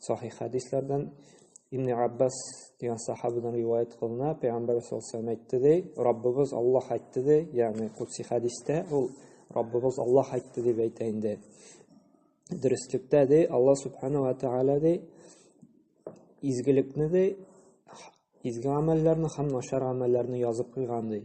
Сахих хәдисләрдән Ибн Аббас дигән сахабадан риваять кылына, Пәйгамбәр саллаллаху әйтте ди, Раббыбыз Аллаһ әйтте ди, ягъни кутси хәдистә ул Раббыбыз Аллаһ әйтте дип әйтә инде. Дөреслектә ди, Аллаһ субхану ва тааля ди, изгелекне ди, изге гамәлләрне һәм начар гамәлләрне язып куйган ди.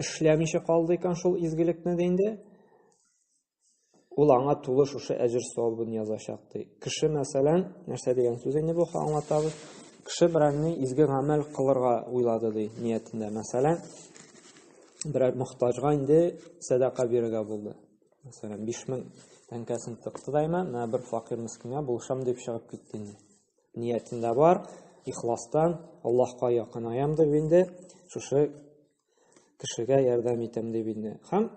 эшләмичә калды икән шул изгелекне дә инде, ул аңа тулы шушы әҗер савабын язачак ди. Кеше, мәсәлән, нәрсә дигән сүз инде бу, аңлатабыз. Кеше берәрне изге гамәл кылырга уйлады ди, ниятендә. Мәсәлән, берәр мохтаҗга инде сәдака бирергә булды. Мәсәлән, 5000 тәңкәсен тыкты дайма, менә бер факир мискингә булышам дип чыгып китте инде. Ниятендә бар, ихластан Аллаһка якынаям дип инде шушы кешегә ярдәм итәм дип инде һәм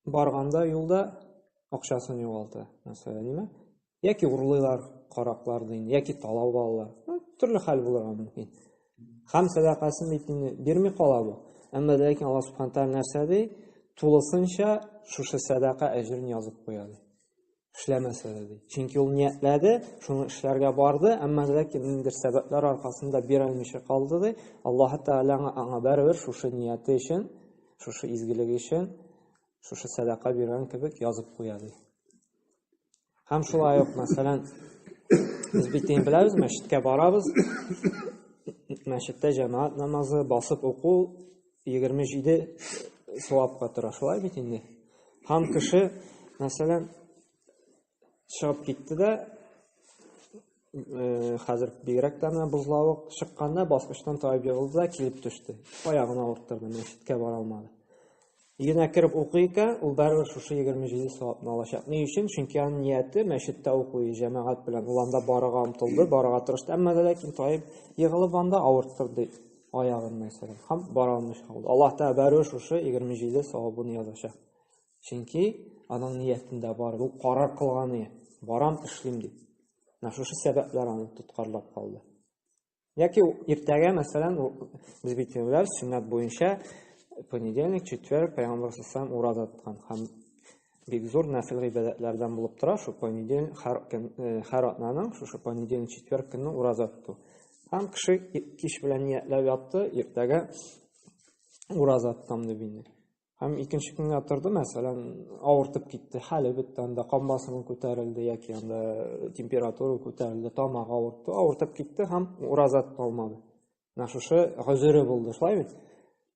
барганда юлда акчасын югалта мәсәлән яки урлыйлар караклар дин яки талау алалар төрле хәл булырга мөмкин һәм сәдакасын бит инде бирми кала бу әмма ләкин алла субхан тәғала нәрсә ди тулысынча шушы сәдака әҗерен язып куя ди эшләмәсә дә ди. Чөнки ул ниятләде, шуны эшләргә барды, әмма ләкин ниндидер сәбәпләр аркасында бирелмичә калды ди. Аллаһ Тәгалә аңа бәрәбәр шушы нияте өчен, шушы изгелеге өчен, шушы сәдака биргән кебек язып куя ди. Һәм шулай ук, мәсәлән, без бит инде беләбез, мәчеткә барабыз. Мәчеттә җәмәгать намазы, басып уку 27 савапка тора. Шулай бит инде. Һәм кеше, мәсәлән, чыгып китте дә, э, хәзер бигрәк тә менә бозлавык чыкканда баскычтан таеп егылды да килеп төште. Аягын авырттырды, мәчеткә бара алмады. Йына кереп укый икән, ул барыбер шушы 27 савапны алачак. Ни өчен? Чөнки аның нияте мәчеттә укый, җәмәгать белән ул анда барырга омтылды, барырга тырышты, әмма ләкин таеп егылып анда авырттырды. аягын мәсәлән һәм бара алмый калды аллаһ тәгалә бәрү шушы егерме җиде савабын язачак чөнки аның ниятендә бар ул карар кылган ие барам эшлим дип менә шушы сәбәпләр аны тоткарлап калды яки иртәгә мәсәлән без бит сүннәт буенча понедельник четверг пәйгамбар салам ураза тоткан һәм Бик зур нәфил гыйбадәтләрдән булып тора шул понедельник һәр көн һәр атнаның шушы понедельник четверг көнне ураза тоту. Һәм кеше кич белән ниятләп ятты, иртәгә ураза тотам дип инде. Һәм икенче көнгә торды, мәсәлән, авыртып китте, хәле бетте, анда кан басымы күтәрелде яки анда температура күтәрелде, тамак авыртты, авыртып китте һәм ураза тоталмады. Менә шушы гозере булды, шулай бит?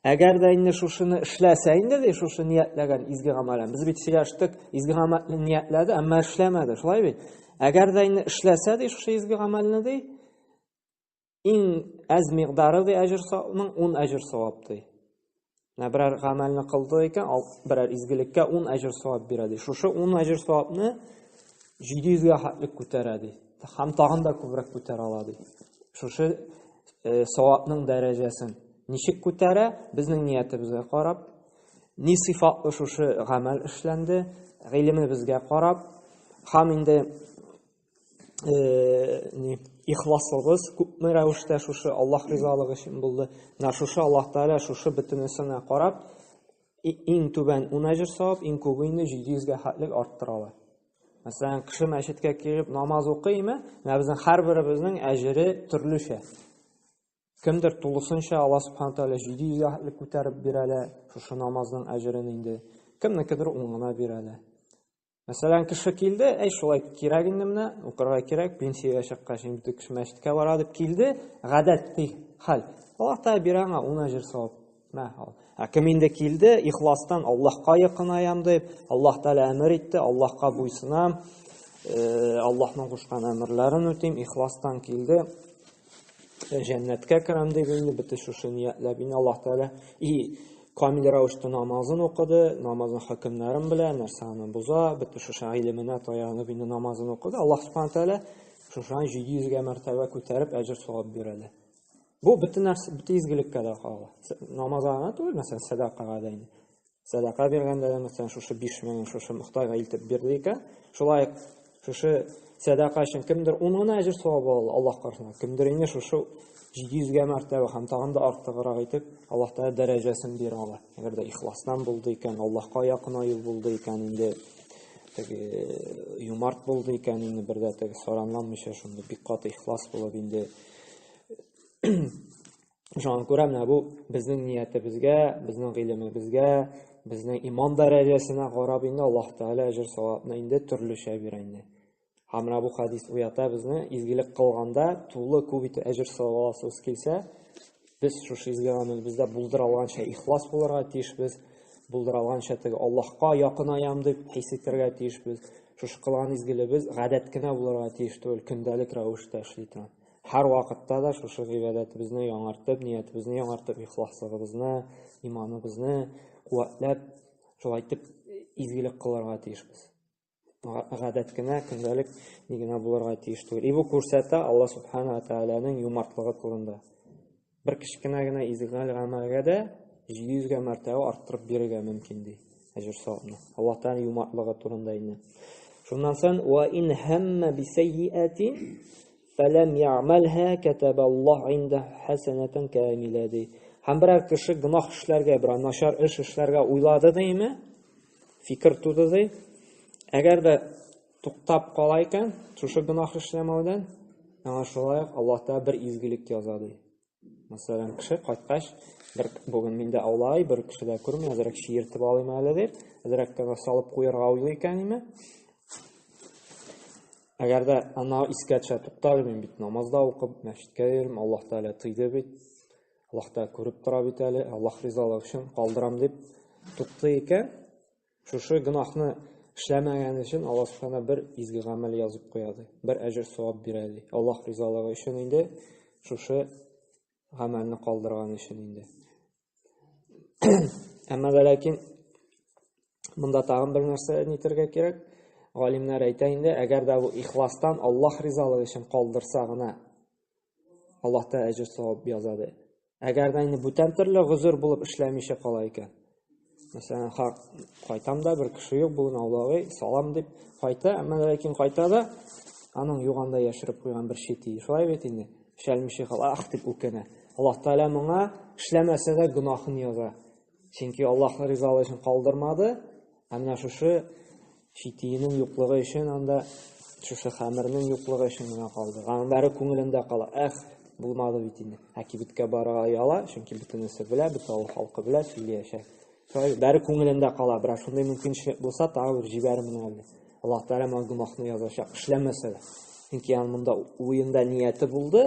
Әгәр дә инде шушыны эшләсә инде, ди, шушы ниятләгән изге гамәлен. Без бит сөйләштек, изге гамәлне ниятләде, әмма эшләмәде. Шулай бит? Әгәр дә инде эшләсә, ди, шушы изге гамәлне, ди, иң әз мигъдары, ди, әҗер савабының 10 әҗер савап, ди. Менә берәр гамәлне кылды икән, ал берәр изгелеккә 10 әҗер савап бирә, ди. Шушы 10 әҗер савапны 700 гә хәтлек күтәрә, ди. Һәм тагын да күбрәк күтәрә ала, ди. Шушы э, савапның дәрәҗәсен. Ничек күтәрә, безнең ниятебезгә карап, ни сыйфатлы шушы гамәл эшләнде, гыйлемебезгә карап, һәм инде э, ихласлыгыз күпме рәвештә шушы Аллаһ ризалыгы өчен булды. Менә шушы Аллаһ Тәгалә шушы бөтенесенә карап, иң түбән 10 әҗер савап, иң күбе инде 700 гә хәтлек арттыралар. Мәсәлән, кеше мәчеткә килеп намаз укыймы? Менә безнең һәрберебезнең әҗере төрлечә. Кемдер тулысынча Алла Субхана Тәгалә 700 яхлек күтәреп бирә дә, шушы намазның әҗерен инде. Кемнекедер ун гына бирә дә. Мәсәлән, кеше килде, әй шулай кирәк инде менә, укырга кирәк, пенсиягә чыккач инде кеше мәчеткә бара дип килде, гадәти хәл. Аллаһ Тәгалә бирә аңа ун әҗер савап. Ә кем инде килде, ихластан Аллаһка якынаям дип, Аллаһ Тәгалә әмер итте, Аллаһка буйсынам, э, Аллаһның кушкан әмерләрен үтим, ихластан килде, э, җәннәткә керәм дип инде бите шушы ниятләп инде Аллаһ Тәгалә и камил рәвештә намазын укыды, намазның хөкемнәрен белә, нәрсә аны боза, бите шушы гыйлеменә таянып инде намазын укыды. Аллаһ Субхану Тәгалә шушаны 700 гә мәртәбә күтәреп әҗер савап бирәләр. Бу бөтен нәрсә, бөтен изгелеккә дә кагыла. Намазга гына түгел, мәсәлән, сәдакага да инде. Сәдака биргәндә дә, мәсәлән, шушы 5000 шушы мөхтайга илтеп бирде икән, шулай шушы сәдака өчен кемдер 10 гына әҗер савабы алды Аллаһ каршында. Кемдер инде шушы 700 гә мәртәбә һәм тагын да артыграк итеп Аллаһ Тәгалә дәрәҗәсен бирә ала. Әгәр дә ихластан булды икән, Аллаһка якын аю булды икән, инде юмарт булды икән, инде бердә теге саранламыйча шундый бик каты ихлас булып инде Шуңа күрә менә бу безнең ниятебезгә, безнең гыйлемебезгә, безнең иман дәрәҗәсенә карап инде Аллаһ Тәгалә әҗер савапны инде төрлечә бирә инде. Һәм менә бу хадис уята безне, изгелек кылганда тулы күп итеп әҗер савап аласыбыз килсә, Без шушы изге гамәлебездә булдыра алганча ихлас булырга тиешбез. Булдыра алганча теге Аллаһка якынаям дип хис итәргә тиешбез. Шушы кылган изгелебез гадәт кенә булырга тиеш түгел, көндәлек рәвештә эшли торган. Һәр вакытта да шушы гыйбадәтебезне яңартып, ниятебезне яңартып, ихласлыгыбызны, иманыбызны куәтләп, шулай итеп изгелек кылырга тиешбез. гадәт кенә, көндәлек ни генә булырга тиеш түгел. И бу күрсәтә Алла Субхана Тәгаләнең юмартлыгы турында. Бер кечкенә генә изгәл гамәлгә дә 700 гә мәртәбә арттырып бирергә мөмкин ди. Әҗер савабны. Алла Тәгалә юмартлыгы турында инде. Шуннан соң ва ин хамма би сайиатин фалам я'малха катабаллах инда хасанатан камила ди. Һәм берәр кеше гөнаһ эшләргә, берәр начар эш эшләргә уйлады димме? фикер туды ди. Әгәр дә туктап кала икән, шушы гөнаһ эшләмәүдән, аңа шулай ук Аллаһ Тәгалә бер изгелек яза ди. Мәсәлән, кеше кайткач, бер бүген миндә аулай, бер кеше дә күрми, әзрәк чиертеп алыйм әле дип, әзрәк кенә салып куярга уйлый икән име? Әгәр дә ана искә төшә, туктале мин бит намазда укып, мәчеткә йөрим, Аллаһ Тәгалә тыйды бит. Аллаһ та күреп тора бит әле, Аллаһ ризалыгы өчен калдырам дип тукты икән, шушы гөнаһны эшләмәгән өчен Аллаһ Субхана бер изге гамәл язып куя ди. Бер әҗер савап бирә ди. Аллаһ ризалыгы өчен инде шушы гамәлне калдырган өчен инде. Әмма дә ләкин монда тагын бер нәрсә әйтергә кирәк. Галимнәр әйтә инде, әгәр дә бу ихластан Аллаһ ризалыгы өчен калдырса гына Аллаһта әҗер савап язады. Әгәр дә инде бүтән төрле гозер булып эшләмичә кала икән. Мәсәлән, хак кайтам да бер кеше юк бүген аулагы, салам дип кайта, әмма ләкин кайта да аның юганда яшереп куйган бер шити. Шулай бит инде. Эшләмичә кала, ах дип үкенә. Аллаһ Тәгалә моңа эшләмәсә дә гөнаһын яза. Чөнки Аллаһның ризалыгы өчен калдырмады, ә менә шушы читиенең юклыгы өчен анда шушы хәмернең юклыгы өчен генә калды. Аның бәрі күңелендә кала. Эх, булмады бит инде. Ә кибеткә барырга яла, чөнки бөтенесе белә, бөтен авыл халкы белә, сөйләячәк. Шулай бәрі күңелендә кала, бірақ шундай мөмкинчелек булса, тағы бер җибәрмен әле. Аллаһ Тәгалә моңа гөнаһны язачак, эшләмәсә дә. Чөнки аның монда уенда нияте булды,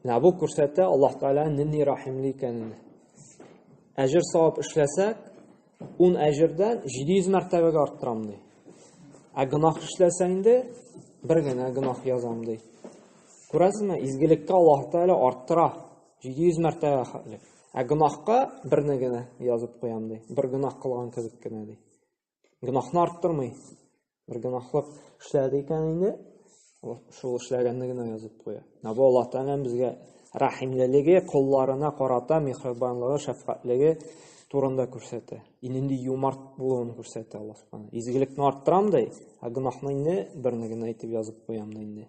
Менә бу күрсәтә Аллаһ Тәгалә нинди рәхимле икәнен. Әҗер савап эшләсәк, 10 әҗердән 700 мәртәбәгә арттырам ди. Ә гынах эшләсә инде бер генә гынах язам ди. Күрәсезме, изгелеккә Аллаһ Тәгалә арттыра 700 мәртәбә хәтле. Ә гынахка берне генә язып куям ди. Бер гынах кылган кебек кенә ди. гөнаһны арттырмый. Бер гөнаһлык эшләде икән инде, шул эшләгәнне генә язып куя. Менә бу Аллаһ Тәгаләнең безгә рәхимлелеге, колларына карата михрибанлыгы, шәфкатьлеге турында күрсәтә. Инде юмарт булуын күрсәтә Аллаһ Тәгалә. Изгелекне арттырам ди, ә гөнаһны инде берне генә итеп язып куям ди инде.